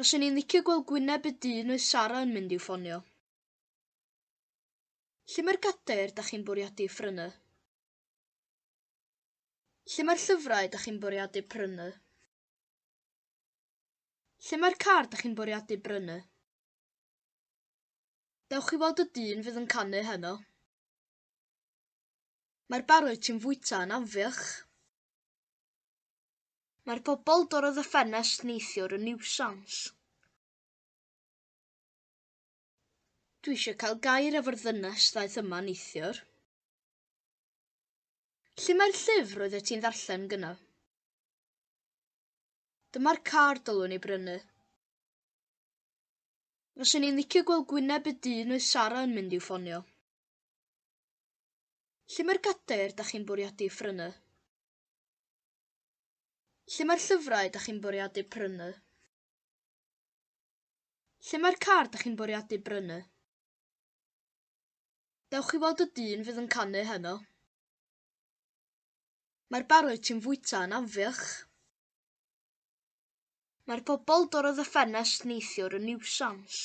Fyswn i'n licio gweld gwyneb y dyn oedd Sara yn mynd i'w ffonio. Lle mae'r gadair da chi'n bwriadu phrynu? Lle mae'r llyfrau da chi'n bwriadu prynu? Lle mae'r car da chi'n bwriadu brynu? Dewch i weld y dyn fydd yn canu heno. Mae'r barrwyr ti'n fwyta yn anfiach. Mae'r pobl dorrodd y ffenest neithiwr yn niwsans. Dwi eisiau cael gair efo'r ddynes ddaeth yma neithiwr. Lle mae'r llyfr roeddet ti'n ddarllen gyna? Dyma'r car dylwn i brynu. Fyswn i'n licio gweld gwyneb y dyn oedd Sara yn mynd i'w ffonio. Lle mae'r gadair da chi'n bwriadu phrynu? Lle mae'r llyfrau da chi'n bwriadu prynu? Lle mae'r car da chi'n bwriadu brynu? Dewch i weld y dyn fydd yn canu heno. Mae'r bar wyt ti'n fwyta yn anfiach. Mae'r bobl dorrodd y ffenest neithiwr yn niwsans.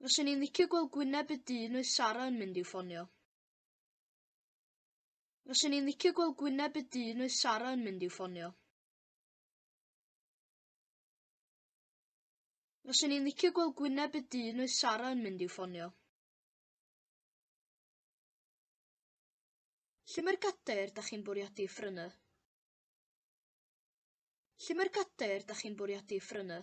Fyswn i'n licio gweld gwyneb y dyn oedd Sara yn mynd i'w ffonio. Fyswn i'n licio gweld gwyneb y dyn oedd Sara yn mynd i'w ffonio. Fyswn i'n licio gweld gwyneb y dyn oedd Sara yn mynd i'w ffonio. Lle mae'r gadair da chi'n bwriadu ffrynu? Lle mae'r gadair da chi'n bwriadu ffrynu?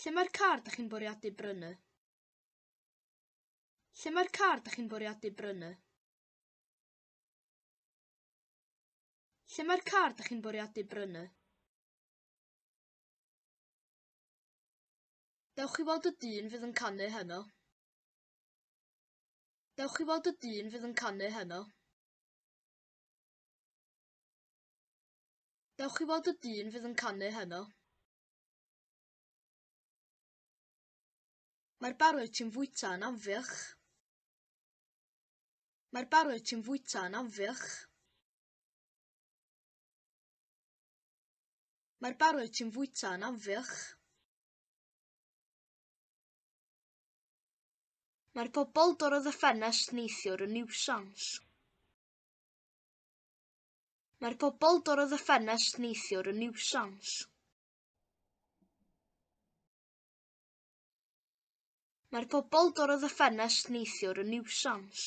Lle mae'r car da chi'n bwriadu brynu? Lle mae'r car da chi'n bwriadu brynu? Lle mae'r car da chi'n bwriadu brynu? Dewch chi weld y dyn fydd yn canu heno. Dewch chi weld y dyn fydd yn canu heno. Dewch i weld y dyn fydd yn canu heno. Mae'r barod ti'n fwyta yn anfiach. Mae'r barod ti'n fwyta yn anfiach. Mae'r barod ti'n fwyta yn anfiach. Mae'r pobl dorodd y ffenest neithiwr yn niwsans. Mae'r bobl dorrodd y ffenest neithiwr yn niwsans. Mae'r bobl dorrodd y ffenest neithiwr yn niwsans.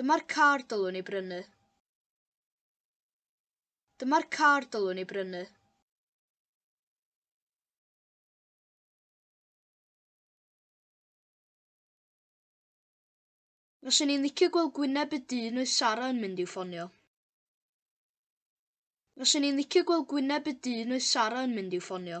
Dyma'r car dylwn i brynu. Dyma'r car dylwn i brynu. Fyswn i'n licio gweld gwyneb y dyn oedd Sara yn mynd i'w ffonio. Fyswn i'n licio gweld gwyneb y dyn oedd Sara yn mynd i'w ffonio.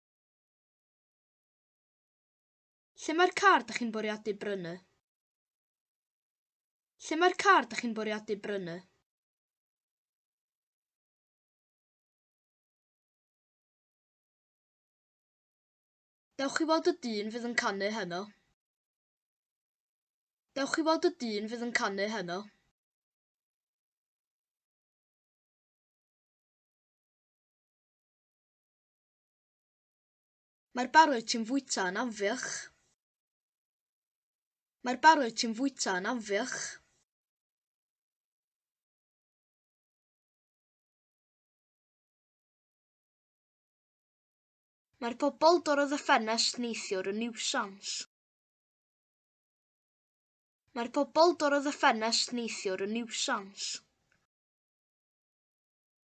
Lle mae'r car dych chi'n bwriadu brynu? Lle mae'r car dych chi'n bwriadu brynu? Dewch i weld y dyn fydd yn canu heno. Dewch i weld y dyn fydd yn canu heno. Mae'r barod ti'n fwyta yn anfiach. Mae'r barod ti'n fwyta yn anfiach. Mae'r pobol dorrodd y ffenest neithiwr yn niwsans. Mae'r pobol dorrodd y ffenest neithiwr yn niwsans.